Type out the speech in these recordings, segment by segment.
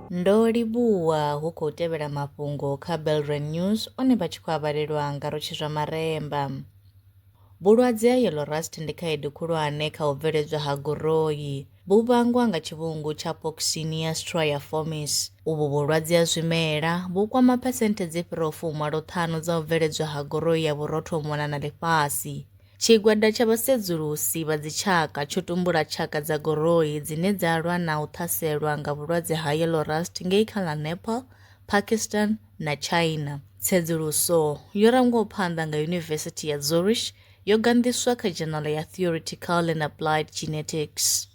Ndo livhuwa hu khou tevhela mafhungo kha Belrand News one vha tshi khou avhalelwa nga rotshi zwa maremba. Vhulwadze ha yellow rust ndi khaedu khulwane kha u bveledzwa ha goroyi. Vhu vhangwa nga tshivhungu tsha Poxynia striaformis. Uvhu vhulwadze ha zwimela vhu kwama phesenthe dzi fhiraho fumalo ṱhanu dza u bveledzwa ha goroyi ya vhurotho u mona na ḽifhasi. Tshigwada tsha vhasedzulusi vha dzitshaka tsho tumbula tshaka dza goroi dzine dza lwa na u ṱhaselwa nga vhulwadze ha yellow rust ngei kha ḽa Nepal, Pakistan na China. Tsedzuluso yo rangwaho phanḓa nga Yunivesithi ya Zurich yo ganḓiswa kha dzhenala ya Theoretical and Applied Genetics.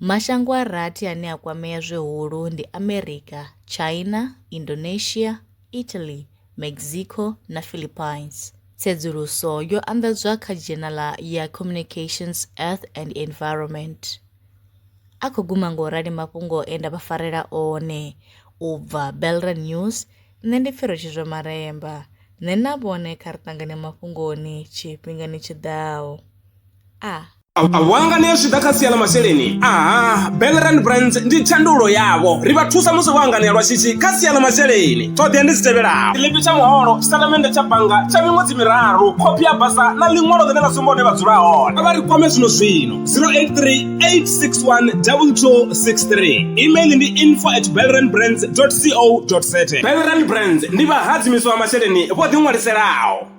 Mashango a rathi ane a kwamea zwihulu ndi Amerika, China, Indonesia, Italy, Mexico na Philippines. Tsedzuluso yo anḓadzwa kha dzhenala ya Communications, Earth and Environment. A khou guma nga u rali mafhungo e nda vha farela one u bva Belra News, nṋe ndi Pfiro Tshizwa Maremba. Nṋe na vhone kha ri ṱangane mafhungoni tshifhingani tshi ḓaho. A. vhanga ni ya zwi ḓa kha sia ḽa masheleni aha belrand brands ndi tshandulo yavho ri vha thusa musi vho anganea lwa shishi kha sia ḽa masheleni ṱhoḓea ndi dzi tevhelaho tshiḽipi tsha muholo tshitatamennde tsha bannga tsha miṅwedzi miraru khophi ya basa na ḽiṅwalo ḽine ḽa sumba hune vha dzula hone vha ri kwame zwino zwino 0838612263 email ndi info at belrand brands co za belrand brands ndi vhahadzimiswa vha masheleni vho ḓiṅwaliselaho